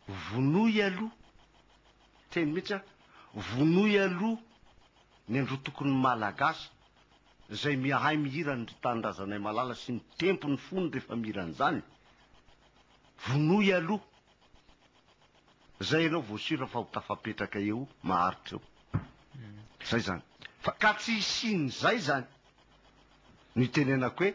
Vonoy aloha, teny mihitsy an, vonoy aloha ny androtokon'ny Malagasy izay miahay mihira an'ry Tanindrazanay Malala sy ny tempony fony rehefa mihira an'izany, vonoy aloha, izay ianao vao sure fa ho tafapetraka eo maharitra eo. Izay izany. Fa ka tsy hisian'izay izany no itenenako hoe,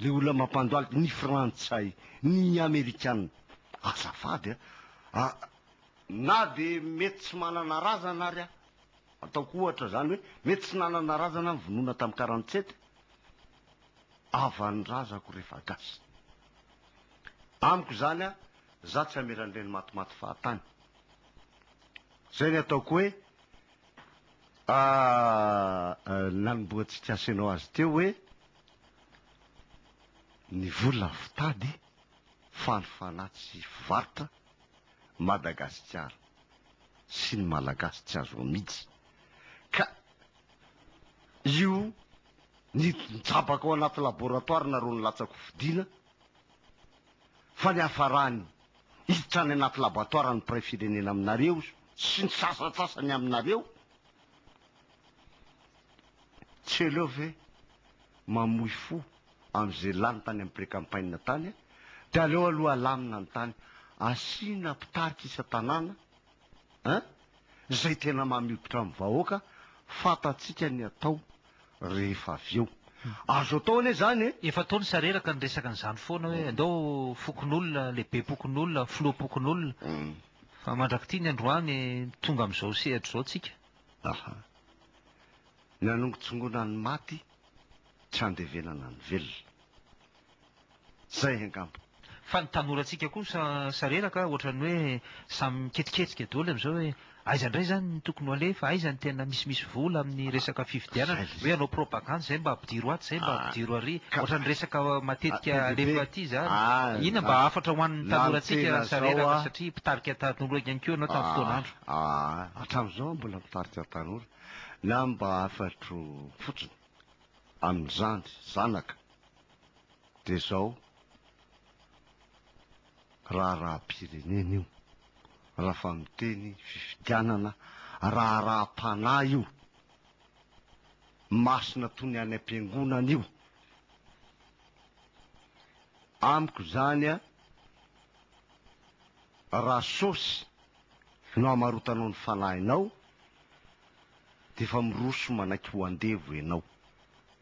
Le olona mampandohalika ny frantsay ny amerikana azafady a a na de mety tsy manana razana ary a ataoko ohatra zany hoe mety tsy nanana razana ny vonoina tam quarante sept avany razako refa gasy amiko zany a za tsy amela an'ireny matimaty fahatany zay ny ataoko hoe a nanombohantsika asehonao azy teo hoe Ny vola fitady, fanofana tsy fivarotra, Madagasikara sy ny Malagasy tsy azo amidy. Ka io nitsabaka ao anaty laboratoire nareo nilatsaka ho fidiana, fa ny hafarany hiditra any anaty laboatoire ny mpiray firenena aminareo sy ny sasantsasany aminareo, Tsy hainao ve mamoy fo amin'izay lany tany amin'ny pré-campagne tany a! Dia aleo aloha alamina ny tany, asiana mpitarika isan-tanàna a! Izay tena mampiditra ny vahoaka, fantantsika ny atao rehefa avy eo. Azo atao anie izany e! Efa tao ny sareraka niresaka an'izany foana hoe andao fokonolona, lehibepokonolona, filoham-pokonolona, fa mandrak'ity ny androany tonga amin'izao sehatra izao tsika. Aha. Ny hanongotsongoana ny maty, tsy handevenana ny velona. Zay angamba. Fa ny tanorantsika kosa sareraka ohatran'ny hoe samy miketriketrika doly amin'izao hoe aiza indray izany no tokony ho alefa, aiza ny tena misimisy vola amin'ny resaka fifidianana, hoe hanao propagandy izay mba ampidiro atsy, izay mba ampidiro ary, ohatran'ny resaka matetika alefa aty izany. Inona mba hafatra ho an'ny tanorantsika sareraka satria mpitarika tanora ihany koa ianao tamin'ny fotoan'andro. Hatramin'izao aho mbola mpitarika tanora, na mba hafatro fotsiny amin'izany, zanaka. dia izao raharaham-pirenena io, raha fa miteny fifidianana, raharaham-panahy io, masina toy ny any am-piangonana io. Amiko izany a, raha sôsy no hamarotanao ny fanahinao dia efa miroso manaiky ho andevo ianao.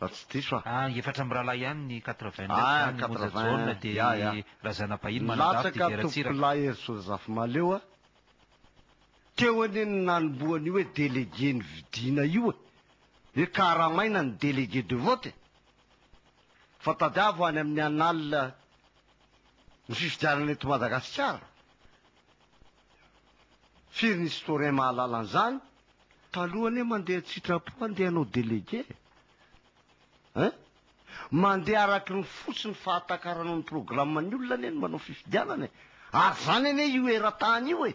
raha tsy diso aho. Ah, efatra mirahalahy ihany ny quatre vingt neuf zany, ny Monja Jaona de i Razanabahiny manadafy de i Ratsiraka. Latsaka Tompolahy Herisoa Zafimaleo a! Teo anie ny nanombohan'io hoe délégué nividiana io e! Hoe karamaina ny délégué de vote e! Fa tadiavo any amin'ny annales ny fifidianana eto Madagasikara. Firy ny historien mahalala an'izany? Taloha anie mandeha an-tsitrapo handeha hanao délégué eh! Mandeha araky ny fo sy ny fahatakaranao ny programme-ny olona anie ny manao fifidianana e! Ary izany anie io eran-tany io e!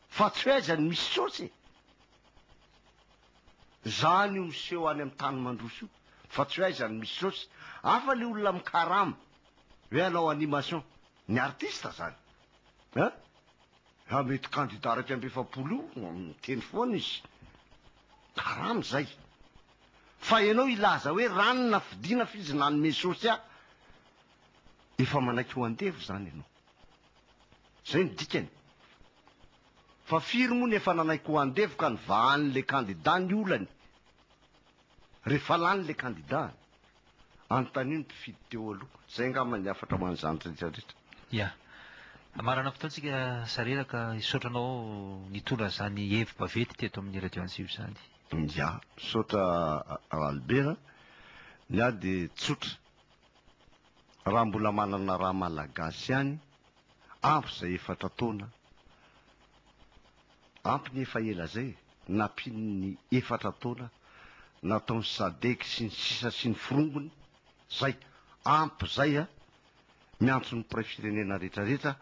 Fa tsy hoe aiza no misy sôsy e! Izany io miseho any amin'ny tany mandroso io fa tsy hoe aiza no misy sôsy! Hafa le olona mikarama hoe hanao animation, ny artiste izany eh! Raha mety kandida iraika amby efapolo io, miteny foana izy. Karama izay. Fa ianao hilaza hoe rano nafidiana fa izy nanome source ahy. Efa manaiky ho andevo izany ianao. Izay no dikany. Fa firy moa no efa nanaiky ho andevo ka nivahan'ilay kandida ny olany? Rehefa lany ilay kandidany. Anontanio ny mpifidy teo aloha. Izay angamba ny hafatra ho an'izany rehetra rehetra. Ya. Marina fotoana tsika sareraka hisaotra anao nitondra izany hevi baventy teto amin'ny radio antsiva izany. Ya. Misaotra Ralibera. Ny ahy dia tsotra. Raha mbola manana ra malagasy ihany. Ampy izay efatra taona Ampy ny efa ela izay e! Nampiany ny efatra taona nataon'i Sadec sy ny sisa sy ny forongony Zay! Ampy izay a! Miantso ny mpiray firenena rehetra rehetra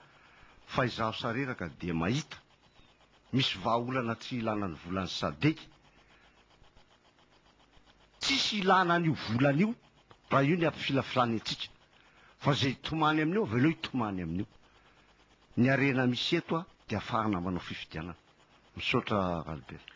fa izaho sareraka dia mahita misy vahaolana tsy ilana ny volan'ny Sadec Tsisy ilana an'io volana io Raha io ny ampifilafilana antsika. Fa izay hitomany amin'io, avelao hitomany amin'io. Ny harena misy eto dia afarana manao fifidianana. Misaotra Ralbert.